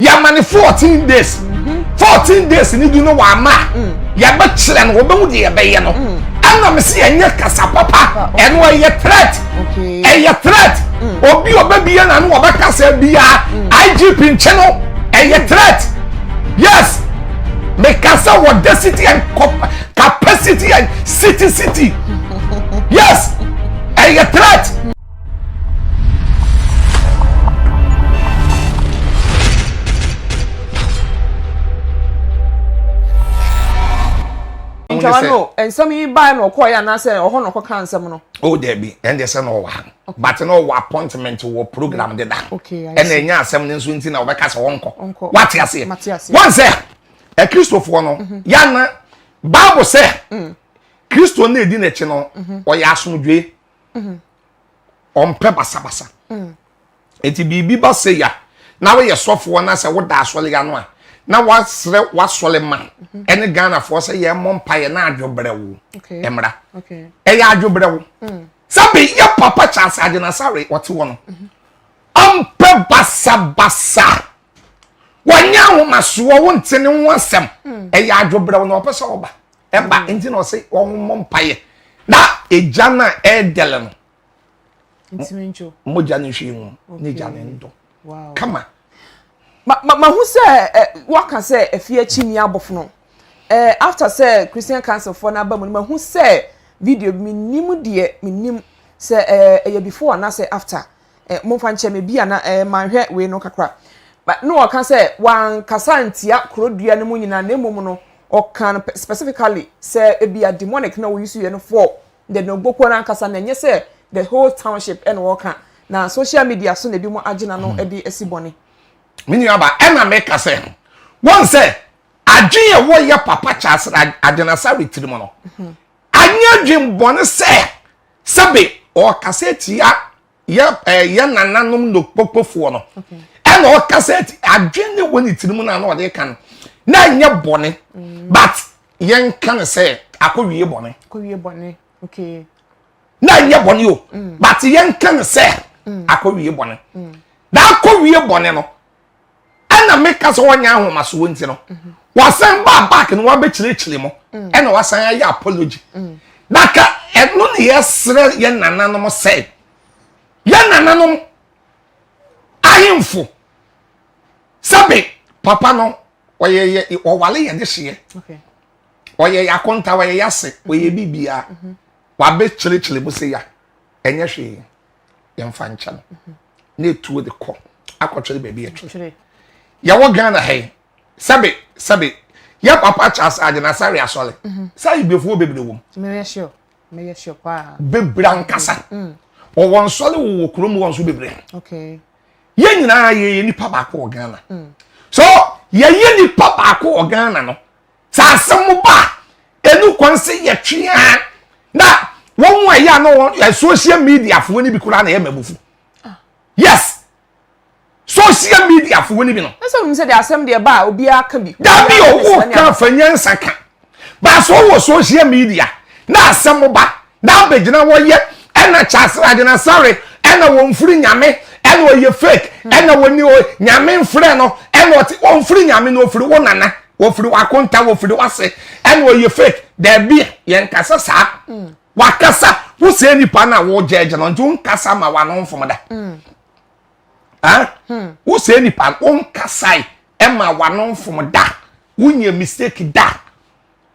yɛama ne fourteen days mhm. fourteen days ni du no wama mm. yɛbɛkyerɛ no wɔbɛhu deɛ yɛbɛyɛ no mm. ɛna me sɛ yɛnyɛ kasa papa ɛno ɛyɛ threat ɛyɛ threat mm. obi ɔbɛbia na no wɔbɛka sɛ biaa igp nkyɛ no ɛyɛ threat yes meka sɛ wɔda city and capacity and city city yes ɛyɛ threat ntwawa no nsɛm yi baa na ɔkɔɔ yɛ anaasɛ ɔhɔ na ɔkɔka nsɛm no. o oh, dɛbi ɛn deɛ sɛ na ɔwɔ ha but na ɔwɔ appointment wɔ program mm. deda ɛna ɛnya asɛm no nso nti na ɔbɛka sɛ ɔnkɔ wate aseɛ wɔn sɛ akristofoɔ no mhm. yana baabu sɛ mm. kristo na edi n'akyi no mhm. ɔyɛ asomdwe mm-hmm. ɔmpɛ basabasa mm. nti biribi ba sɛ ya na woyɛ sɔfoɔ na sɛ woda asɔre ano a na wasrɛ wasɔre ma mm-hmm. ɛne ghanafoɔ sɛ yɛn mmɔ mpa yɛn na adwobrɛ wo mmra ɛyɛ adwobrɛ wo mm. sɛ bɛyɛ papa kyɛ asɛ agyenasare ɔte wɔ no mm-hmm. ɔmpɛ basabasa wɔnyɛ ahomasoɔ wo nte ne ho asɛm ɛyɛ adwobrɛ wo na ɔpɛ sɛ ɔba ɛba mm. nti na ɔse wɔn mmɔ mpaeɛ na egya no a ɛredɛlɛ no mogya no nhwie mu ne egya no ndɔ kama mahu sɛ waka sɛ afie akyi ni abɔfono after sɛ christian council foɔ no aba mu no mahu sɛ video bi menim deɛ menim sɛ ɛyɛ before anaasɛ after Eh, momfa nkyɛ me, ebia na eh, manhwɛ wei no kakra. But na ɔka sɛ wankasa ntia korodua no mu nyinaa, na mmom no, ɔka no specifically sɛ ebia demonic na wɔyi so yɛ no for the Nogbokuo no ankasa, na ɛnyɛ sɛ the whole township ɛna ɔka, na social media so na ebi mo agye n'ano hmm. de asi bɔne. Me nua ba, ɛna meka sɛ, wɔn sɛ, adwene a wɔyɛ papa kyɛ asra adwenasa retiri mu no, hmm. Anyɛ adwemmɔne sɛ sɛbe ɔɔkasa atia yɛ ɛɛ yɛ nananom nokpokpofoɔ no, ɛna ɔɔkasa ati adwene ne wɔ ne tiri mu na na ɔde ka no, na ɛnyɛ bɔne, mm. but yɛn ka no sɛ akɔwie bɔne. Akɔwie bɔne, okay. Na ɛnyɛ bɔne o, mm. but yɛn ka no sɛ mm. akɔwie bɔne. Na akɔwie bɔne no. ɛna meka sɛ wɔnyɛ ahomasoɔ nti no mhm. wasan baa back no wabɛkyerɛkyerɛ mu mm. ɛna wasan ayɛ apology mm. na ka ɛno ne yɛsrɛ yɛ nananom sɛ yɛ nananom ahemfo sɛbe papa no ɔyɛ yɛ ɔwale yɛ de hyeɛ ɔyɛ yɛ akonta ɔyɛ yɛ ase ɔyɛ mhm. biribiara mhm. wabɛkyerɛkyerɛ mu sɛ ya ɛnyɛ hwee yɛmfa nkyɛ no na etuo de kɔ akɔtwere baabi ɛtwere yɛwɔ ghana ha yi sɛbe sɛbe yɛ papa charles agyina sáré asɔre mhm. sá ibefuo bebree wɔ mu. meyɛ sure meyɛ sure paa. bebree ankasa mm. wɔwɔ nsɔre wɔwɔ kurom wɔn nso bebree yɛn nyinaa yɛyɛ nipa baako wɔ ghana mm. so yɛyɛ nipa baako wɔ ghana no Saa asɛm mo ba ɛnu kwan sɛ yɛ tweaa na wɔn mu ɛyɛ ano wɔn social media foɔ ni bi koraa na ɛyɛ mɛbufu ah. yes social media foɔ ni bi no. ɛsɛ wɔn sɛ de asɛm deɛ ba a obiara ka bi. dabi owo kan fanyɛ nsa kan baasa wɔ social media na asɛm mo ba na abɛgyina hɔ yɛ ɛna kyasrade na sɔre ɛna wɔmfiri nyame ɛna ɔyɛ fake hmm. ɛna wɔni o nyame mfrɛ no ɛna ɔte wɔmfiri nyame na ɔfiri wo nana wɔfiri wakonta wɔfiri wase ɛna ɔyɛ fake daabi yɛn kasa saa hmm. wakasa wosɛ nipa no a wɔgyɛgye no nti wonkasa ma wano mfom da hmm. wosɛ nipa no wonkasae ɛma wano mfom da wonyɛ mistake da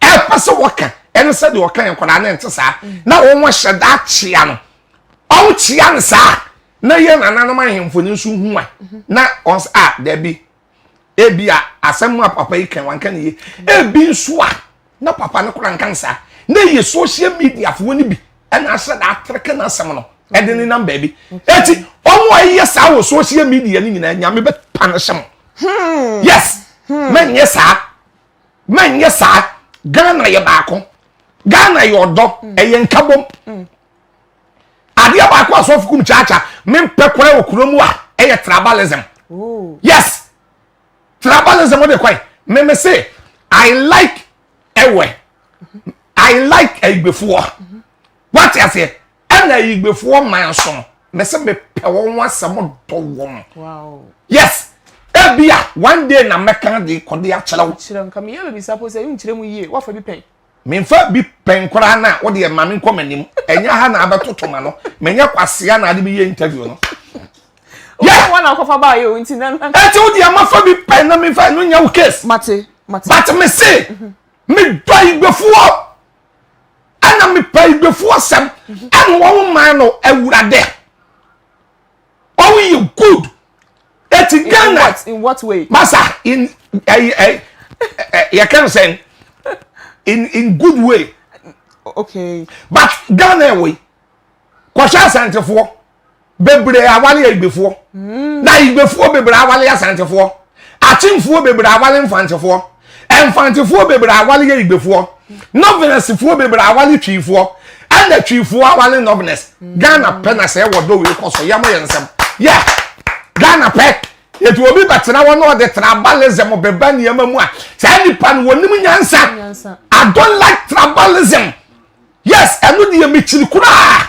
ɛpɛ sɛ wɔka ɛne sɛ deɛ ɔka yɛ nkwadaa no nte saa mm. na wɔn hyɛ da akyea no wɔn kyea no saa na yɛ nananom ahemfo no nso hu a mhm. na wɔn sɛ a dɛbi ebi a asɛm a papa yi kan wanka ne yie ebi nso a na papa no kora nka saa na yɛ social media foɔ no bi ɛna ahyɛ da atreke n'asɛm no ɛde ne nam baabi eti wɔn a yɛ saa wɔ social media no nyinaa nyame bɛ pa no hyɛ mo hmm. yes mɛ hmm. nyɛ saa. manyɛ saa ghana yɛ baako ghana yɛ ɔdɔ mm. ɛyɛ nkabom mm. adeɛ baako asɔfo kum kyaakya mempɛ kora wɔ kuro mu a ɛyɛ tribalism yes tribalism wode kwan meme se i like ɛwɛ i like ayibefoɔ mm-hmm. wate aseɛ ɛna ayigbefoɔ man so no mese mepɛ wɔn ho asɛm dɔ wɔn yes ebi a one day na mɛka de kɔde akyerɛ wo. kyerɛ nka meyɛ baabi sa po sɛ nkyerɛ mu yie wafa bi pɛn. menfa bi pɛn koraa na wode ɛma me nkɔ m'anim ɛnyɛ ha na abɛtoto ma no menyɛ kwasea na ade bi yɛ interview no. yɛ wɔn na akɔfa baa yɛ o nti na. ɛti o deɛ mafa bi pɛn na mefa ɛno nya wo case. mate mate. but me se me dɔ igbefoɔ. ɛna mepɛ igbefoɔ asɛm ɛna wɔn man no awurade wɔn yɛ good eti ghana in what way masa in ɛyi ɛyi yɛ kɛn sɛn in in good way okay but ghana ɛwɔ yi kɔhwɛ asantefoɔ. bebree awale ayigbefoɔ hmm. na ayigbefoɔ bebree awale asantefoɔ akyemfoɔ bebree awale mfantefoɔ mfantefoɔ bebree awale ayigbefoɔ nɔvenɛsifoɔ bebree awale twiifoɔ ɛna twiifoɔ awale nɔvenɛs hmm. ghana pɛ na sɛ ɛwɔ dɔwɔ ekɔ so yɛn mo yɛ nsɛm yɛ ghana pɛ yɛtu obi bɛtena hɔ na ɔde tribalism bɛba nneɛma mu a saa nipa no wɔn nim nyansa i don't like tribalism yes ɛno deɛ mekyiri koraa.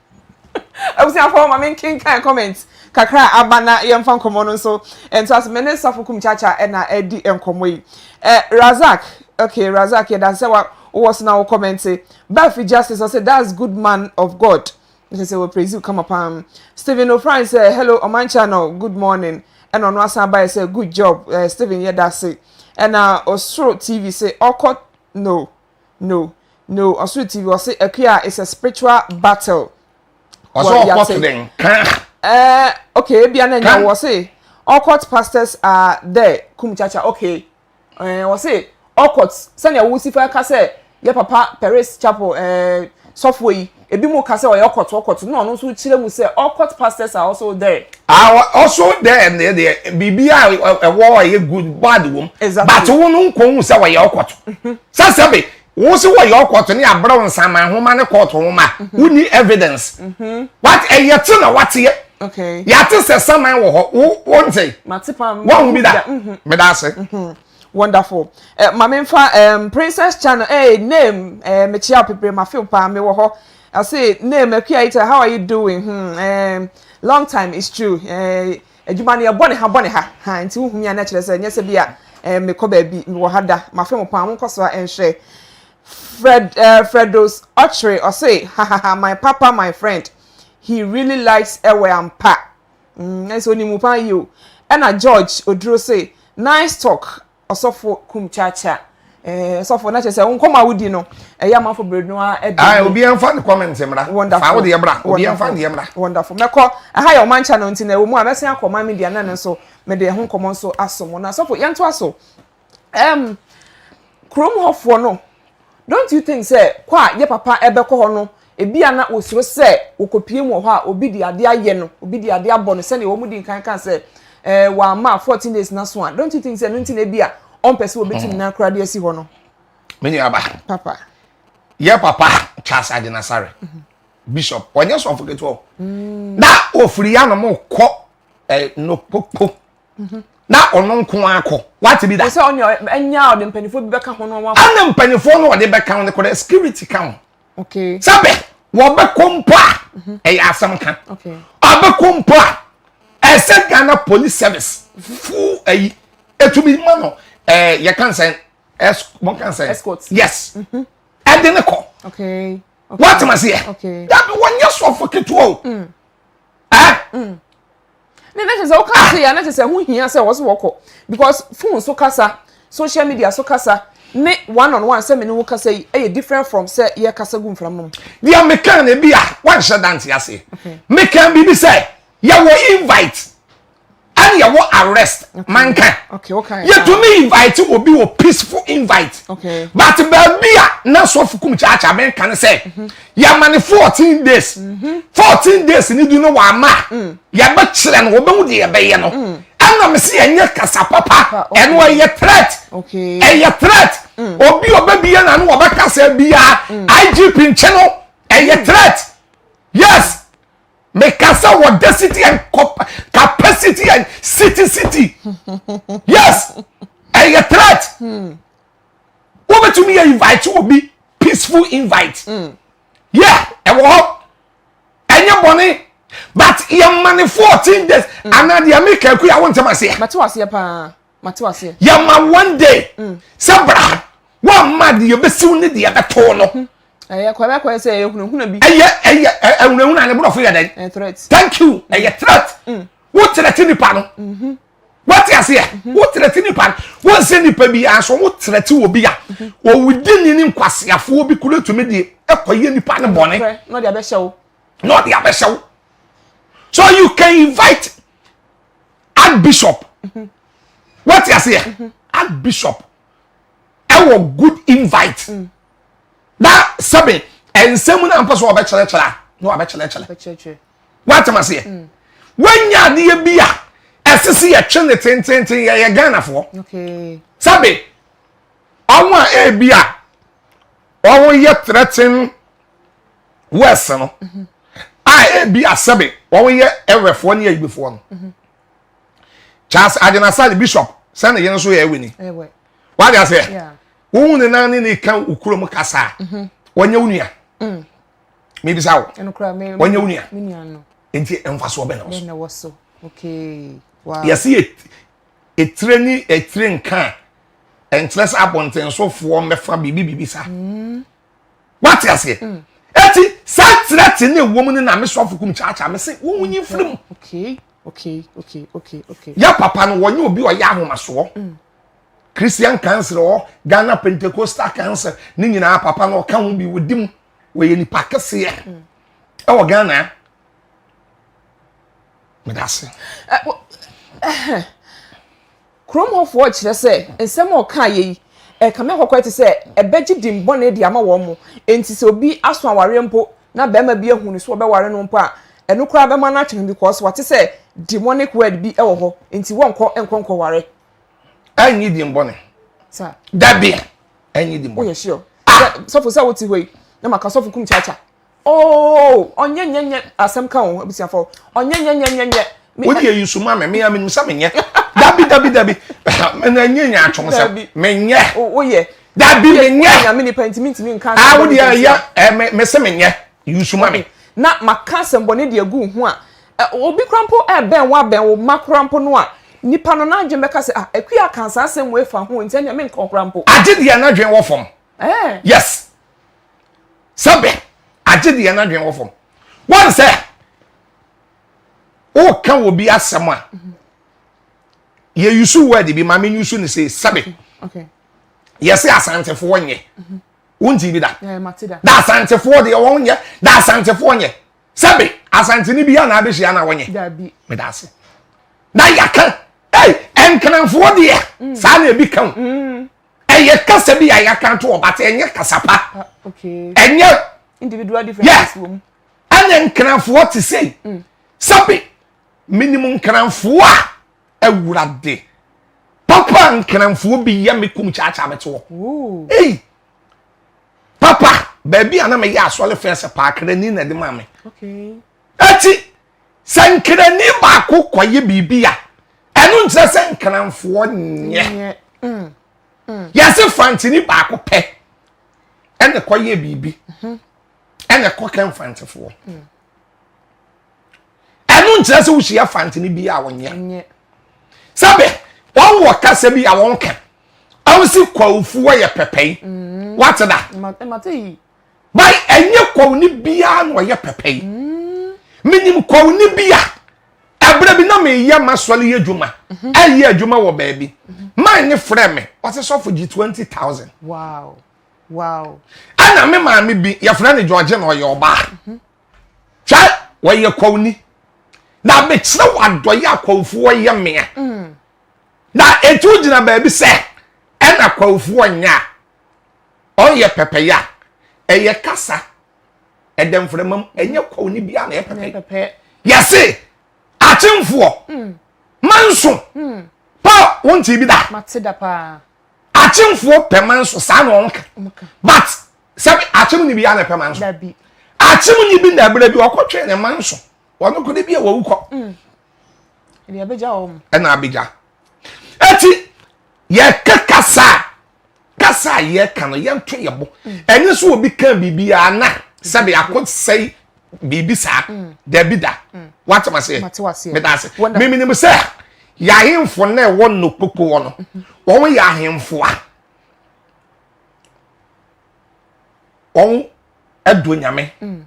Abusuafoɔ ma menkenkan comment kakra a aba na yɛmfa nkɔmmɔ no nso ntoa so. Me ne Sɔfo Kum Chacha na ɛredi nkɔmmɔ yi. Eh, Razak, okay, Razak yɛda ase sɛ wa wowɔ so na wo kɔmɛnte. Bafi Justice ɔsɛ that's good man of God. Nkyɛ sɛ wɔ praise you kama paa. Stephen Ofran sɛ hello Ɔman Channel, good morning. Ɛna ɔno asan abaeɛ sɛ good job eh, Stephen yɛda ase. Ɛna Osoro TV se ɔkɔ no no no ɔsoro tv ɔse akua is a spiritual battle ɔsɛ ɔkɔ so den ka ɛɛ eh, okay ebia na nya wɔ se ɔkɔt pastors are there kum chacha okay ɛɛ eh, ɔse ɔkɔt sɛnea wosi fa ka sɛ yɛ papa paris chapel ɛɛ eh, sɔfo yi Ebinom ka sɛ ɔyɛ ɔkɔt ɔkɔt na ɔno nso wokyerɛ mu sɛ ɔkɔt pastors are also there. Ah, also there ne deɛ biribi a ɛwɔ a ɛyɛ good bad wom. Exactly. But wo no nkɔ hu sɛ wɔyɛ ɔkɔt. Mhm. Sɛ sɛbe wo se wɔyɛ ɔkɔt ne abrɛw nsaman nhoma ne kɔɔto nhoma a mhm. wonni evidence. Mhm. What ɛyɛ te na wateɛ. Okay. Yɛate sɛ saman wɔ hɔ. Wo wo nte. Mate pam. Wɔn ho bi da. Meda ase. Wonderful. Eh, ma memfa um, Princess Channel. Hey, name. Eh, mekyia apebre ma feel pa me wɔ hɔ. I say name Akuya Ita, how are you doing? Hmm, eh, long time it's true. Eh, adwuma no yɛbɔ ne ha bɔ ne ha. Ha, nti wohu me a na kyerɛ sɛ nyɛ sɛ bi a eh, mekɔ baabi me wɔ ha da. Ma feel pa mo nkɔ so a ɛnhwɛ. Fred eh, Fredos Ochre ɔse ha ha ha my papa my friend. He really likes Ewe Ampa. mm ɛsɛ onim wo paa yio ɛna George oduro se nice talk ɔsɔfo kum kyaakyaa ɛɛ ɔsɔfo na kyerɛ sɛ nkɔmɔ a wodi no ɛyɛ amanfo bere no a ɛdi ayi obi ɛnfa ne comment mmra fa wo deɛ bra obi ɛnfa ne deɛ mmra wonderful mɛkɔ ɛha yɛ ɔman channel nti na ɛwɔ mu a mɛsen akɔ ɔman media na ne nso mede ɛho nkɔmɔ nso aso mo na sɔfo yɛntoa so. um, kurom hɔfoɔ no, don't you think sɛ kɔ a yɛ papa ɛbɛkɔ hɔ no, ebi a na wɔsuro sɛ wɔkɔpie mu wɔ hɔ a, obi de adeɛ ayɛ no, obi de adeɛ abɔ no, sɛdeɛ wɔn di nkan ka sɛ eh, wɔama 14 days na so a, don't you think sɛ ɛno nti na ebi a ɔmpɛ sɛ wɔbɛtu ne nan koraa de asi hɔ no? Me nua ba. Papa. Yɛ papa Charles Adenasare. Mm -hmm. bishop ɔnyɛ sɔfo ketewa o na ofiri anom kɔ ɛ eh, nokpokpo mhm. na ɔno nko ara kɔ wate bi da. sɛ ɔne ɛnya ɔde mpanyinfoɔ bi bɛka ho no wɔn. ɛna mpanyinfoɔ no ɔde bɛka ho no kɔdɛ security ka ho. okay. sábẹ wɔbɛkɔ mpo a mhm. ɛyɛ asɛm ka ɔbɛkɔ mpo a ɛsɛ ghana police service fuu ɛyi etumi ma no ɛɛ yɛ kan sɛn ɛs wɔn kan sɛn escort yes mhm. ɛde ne kɔ. okay. wɔatuma seɛ dabi wɔnyɛ sɔfo ketewa o. Mm. ɛɛ. Mm. Ne na kyerɛ sɛ woka ase yɛ na kyerɛ sɛ ho hia sɛ wɔso wɔkɔ because phone so kasa social media so kasa ne one on one sɛ me ne wo kasa yi ɛyɛ different from sɛ yɛ kasa gu mfram no mu. Deɛ meka no bi a wanhyɛ dante ase meka biribi sɛ yɛwɔ invite ɛne yɛwɔ arrest manka yɛtumi invite obi wɔ peaceful invite but baabi a na sɔfo kum kyaakyaa meka no sɛ yɛama no fourteen days mhm. fourteen days ni du no wama mm. yɛbɛkyerɛ no wɔbɛhu deɛ yɛbɛyɛ no mm. ɛna me sɛ yɛnyɛ kasa papa ɛno ɛyɛ threat ɛyɛ threat mm. obi ɔbɛbia na no wɔbɛka sɛ biaa igp nkyɛ no ɛyɛ threat yes mekasa wɔ da city and capacity and city city yes ɛyɛ threat wobɛtumi yɛ invite obi peaceful invite mm. yɛ ɛwɔ hɔ ɛnyɛ bɔne but yɛma ne 14 days mm. anaa deɛ meka aku a wontem aseɛ mate waseɛ paa mate waseɛ yɛma one day mm. sɛ bra woamma deɛ yɛbɛsiw ne deɛ bɛtoo no hmm. ɛyɛ kɔbɛkɔɛ sɛ ɛyɛ hunahuna bi ɛyɛ ɛyɛ ɛhunahuna ne borɔfo yɛ dɛn thank you ɛyɛ threat wotrɛte nipa no mm-hmm. wate aseɛ mhm. wo trɛte nipa wɔn sɛ nipa bi aso wo trɛte wɔ bi a mhm. wɔwudi ni ne nkwaseafoɔ bi kura tumi de ɛkɔyɛ nipa ne bɔne na ɔde abɛhyɛ wo na ɔde abɛhyɛ wo so you can invite archbishop mhm. wate aseɛ archbishop ɛwɔ good invite mm. na sɛbe ɛnsɛm na mpɛ so wɔbɛkyerɛkyerɛ a na wɔbɛkyerɛkyerɛ woatem aseɛ mm. woanya adeɛ bi a ɛse se yɛtwe ne tententen yɛyɛ ghanafoɔ sɛbe ɔmo a ɛbi a ɔmo yɛ threaten west no mhm. a ɛbi a sɛbe ɔmo yɛ ɛwɛfoɔ ne ayibifoɔ no mhm. charles adenasa ne bishop sɛne yɛn nso yɛ ɛwɛ ni wade aseɛ wohu ne nan ne ne ka okurom kasa a mhm. wɔnyɛ wo nua mm. mebisa wo wɔnyɛ wo nua nti mfasoɔ bɛ na wɔ so yɛse ɛtire ne ɛtire nka a ɛnkyerɛ sɛ abɔntensofoɔ mɛfa biribi biribi saa mm. wate aseɛ mm. ɛti saa tirɛ te ne ɛwɔ mu no na mesɔfo kum kyaakyaa me se wo wonyi mfiri mu yɛ papa no wɔnyɛ obi ɔyɛ ahomasoɔ mm. christian council ɔ ghana pentecostal council ne nyinaa papa no ɔka ho bi wɔdi mu wɔyɛ nipa kɛseɛ ɛwɔ ghana meda ase kurom hɔfoɔ kyerɛ sɛ nsɛm a ɔka yɛ yi ɛka me akɔkɔɛ te sɛ ɛbɛgye dimbɔne de ama wɔn mo nti sɛ obi aso awareɛ mpo na bɛrima bi ahu no so ɔbɛware no mpo a ɛno koraa bɛma no atwe no because wate sɛ demonic word bi wɔ hɔ nti wɔnkɔ nkɔ nkɔware ɛnyi dimbɔne dabi ɛnyɛ di mu. woyɛ sure ah! sɛ sɔfo sɛ wote hɔ yi na maka sɔfo kum kyaakya oo ɔnyɛ nyɛ nyɛ asɛm ka o abusuafo ɔnyɛ nyɛ nyɛ nyɛ nyɛ wode yɛ yusu ma me mea menim sɛ menyɛ dabi dabi dabi mena nyɛ nyɛ atwom sɛ menyɛ woyɛ dabi menyɛ nyame nipa ntimi ntimi nka ah wode yɛ yɛ mese menyɛ yusu ma me na maka asɛmbɔne de agu ho a Obi koraa mpo rebɛn wo abɛn wo mma koraa mpo no a, nipa no n'adwene bɛka sɛ, ah, Akua akaa saa asɛm wei fa ho nti ɛnneɛ menkɔ koraa mpo. Agye deɛ n'adwene wɔ fam. Eh. Yes. Sɛbe, agye deɛ n'adwene wɔ fam. Wɔn sɛ, woka wɔ bi asɛm a, yɛ yusu word bi maame yusu ne se sɛbe. Okay. Yɛse asantefoɔ nyɛ. Wonti bi da. Da asantefoɔ deɛ wɔn nyɛ, da asantefoɔ nyɛ. sɛbe asantene bi a na abɛhyia na wonye meda ase na yɛka ei ɛnkenamfoɔ deɛ mm. saa na ebi ka o mm. ɛyɛ kasa bi a yɛaka to ɔba te ɛnyɛ kasa pa ah, ɛnyɛ yes ɛnyɛ nkenamfoɔ te sei mm. sɛbe menim nkenamfoɔ a awurade papa nkenamfoɔ bi yɛ me kum kyaakyaa me toɔ ei papa baabi a na meyɛ asɔre fɛn sɛ paakrani na ɛde maa me ɛti sɛ nkrani baako kɔyɛ biribi a ɛno nkyerɛ sɛ nkranfoɔ nyɛ mm, mm. yɛse fantini baako pɛ ɛna kɔyɛ biribi mhm. ɛna kɔkɛ mfantefoɔ mm. ɛno nkyerɛ sɛ wohyia fantene bi a wɔnyɛ sɛbe wɔn wɔ kasa bi a wɔn ka wɔn si kwawufu wɔyɛ pɛpɛi mm. wate da bai ɛnyɛ kwawuni biara na ɔyɛ pɛpɛi mm. menim kwawuni bi a ɛberɛ bi na meyɛ masɔre yɛ adwuma mhm. ɛyɛ adwuma wɔ baabi mhm. man ne frɛ me ɔsɛ sɔfo gye 20000 ɛna me maame bi yɛfrɛ no george na ɔyɛ ɔbaa mhm. kyɛ wɔyɛ kɔwni na mekyerɛ wɔ adɔyɛ a kɔwfoɔ yɛ meɛ mm. na ɛtu gyina baabi sɛ ɛna kɔwfoɔ nyɛ a ɔnyɛ pɛpɛyɛ a ɛyɛ kasa ɛdɛ mframa mu ɛnyɛ kɔwni bia na ɛpɛpɛ yɛse akyemfoɔ mm. manso mm. pa wonte bi da akyemfoɔ pɛ manso saa na ɔnka but sɛbi akyem ni bi ya na pɛ manso dabi akyem ni bi na bere bi ɔkɔ twɛn ne manso wɔn kɔ de bi a wɔwu kɔ mm. ɛna abegya wɔn ɛna abegya eti yɛka kasa kasa a yɛka no yɛnto yɛ bo mm. ɛnyɛ so obi ka biribi a na sɛbi akɔ sɛi biribi saa mm. dabi da wate ma se meda ase miminim sɛ yɛahemfo na ɛwɔ nnokpokpo wɔ no mm-hmm. wɔn yɛ ahemfo a wɔn ɛdɔ nyame mm.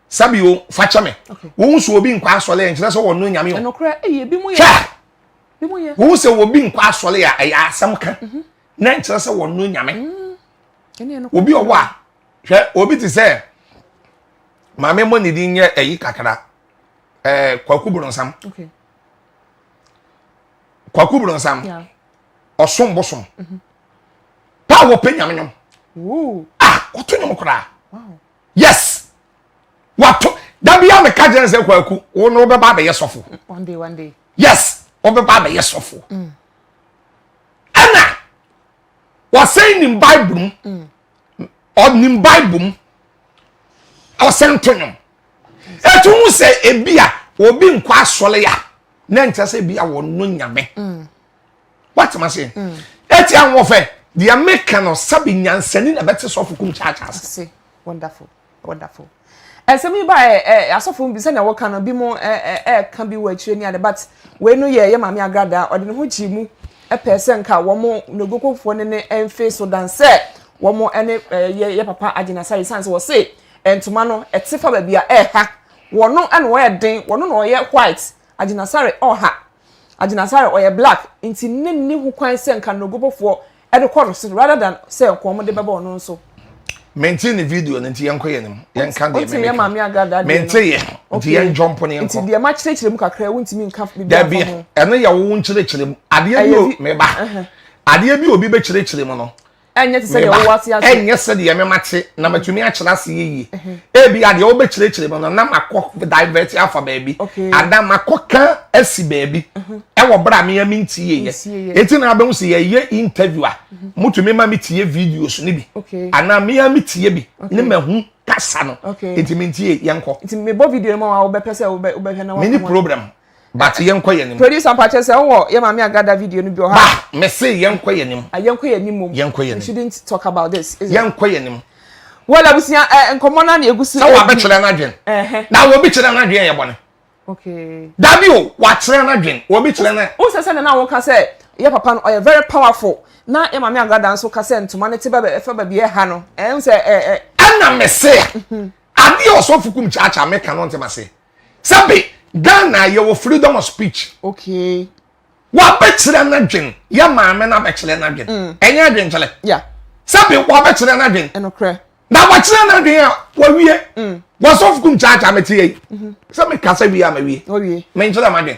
sabi o fakyɛ me wɔn sɛ obi nkɔ asɔre yɛ nkyerɛ sɛ wɔn no nyame o hwɛ wɔn sɛ obi nkɔ asɔre yɛ ɛyɛ asɛm ka mhm. na nkyerɛ sɛ wɔn no nyame mm. obi ɔwɔ a hwɛ obi ti sɛ maame mmɔ ne din nyɛ ɛyi kakra ɛɛ kwaku bronsam kwaku bronsam. Yeah. ɔsom bosom mhm. pa a wɔpɛ nyame nwom a ah, wɔto nwom koraa yes wɔato da bia meka gyerɛ sɛ kwaku wo no wobɛba abɛyɛ sɔfo yes wobɛba abɛyɛ sɔfo mm. ɛna wɔsɛn nim bible mu mm. ɔnim bible mu ɔsɛn to nwom ɛtu hu sɛ ebi a obi nkɔ asɔre a na nkyɛ sɛ bia wɔno nyame mm. woatema se mm. ɛti ahoɔfɛ deɛ meka no sɛbe nyansani na bɛte sɔfo kum kyaakya ase wonderful wonderful ɛsɛm yi ba ɛ ɛ asɔfo bi sɛnea wɔka no bi mo ɛ ɛ ɛ ka bi wɔ akyire ne ade but wei no yɛ yɛ maame agrada ɔde ne ho gyee mu ɛpɛ sɛ nka wɔn negokofoɔ ne ne ɛnfe so dan sɛ wɔn ɛne ɛ yɛ yɛ papa agyinasare san sɛ wɔse ntoma no ɛte fa baabi a ɛha Wɔno na ɔyɛ den, wɔno na ɔyɛ white, Agyinasare ɔha, Agyinasare ɔyɛ black, nti ne nni ho kwan sɛ nka Nogobofoɔ de kɔ no so rather than sɛ nka wɔn de bɛba ɔno nso. Mentee ne video no nti yɛnkɔ yɛn anim yɛnka deɛ me meka. Menteeɛ nti yɛn jump no yɛnkɔ. Nti deɛ ma kyerɛkyerɛ mu kakra yi wontumi nka bibi afa ho. Dabi ɛno yɛ wo nkyerɛkyerɛ mu adeɛ bi o meba adeɛ bi obi bɛkyerɛkyerɛ mu no. ɛnyɛ te sɛ deɛ ɔwɔ ase ase ɛnyɛ sɛ deɛ mɛma kye na matumi akyerɛ ase yie ebi adeɛ wobɛkyerɛkyerɛ mu no na makɔ divert afa baabi ana makɔ ka asi baabi ɛwɔ berɛ a meya menti yeyɛ ɛti na abɛhu sɛ yɛyɛ interview a motumi ma metie videos no bi anaa meya metie bi ne mahu kasa no nti mentie yɛnkɔ mebɔ video no ma wobɛpɛ sɛ wobɛhwɛ na mene problem But yɛn kɔ yɛn nim. Producer mpakyɛ sɛ wɔ yɛ maame agada video no bi wɔ ha. Ba mese yɛn kɔ yɛn nim. Yɛn kɔ yɛn nim mom. Yɛn kɔ yɛn nim. We shouldn't talk about this. Yɛn kɔ yɛn nim. Well abusua ɛ eh, nkɔmɔ na na egusi. Sɛ wabɛkyerɛ n'adwen. Na wɔbi kyerɛ n'adwen yɛ bɔne. Okay. Dabi o wakyerɛ n'adwen wɔbi kyerɛ na. O sɛ sɛ na na wɔn ka sɛ yɛ papa no ɔyɛ very powerful na yɛ maame agada nso ka sɛ ntoma ne te bɛ bɛ fɛ baabi ɛha no ɛn sɛ ɛ ɛ. Ɛna mese. Adeɛ ɔsɔfo kum kyaakyaa meka no ntoma se. sɛbi ghana yɛwɔ freedom of speech okay wabɛkyerɛ n'adwen yɛ maame no abɛkyerɛ n'adwen mm. ɛnyɛ adwenkyerɛ sɛbi wabɛkyerɛ n'adwen na wakyerɛ n'adwen a wawie mm. wasɔfo kum kyaakyaa mete yɛ yi mhm. sɛ mekasa wie a mawie menkyerɛ m'adwen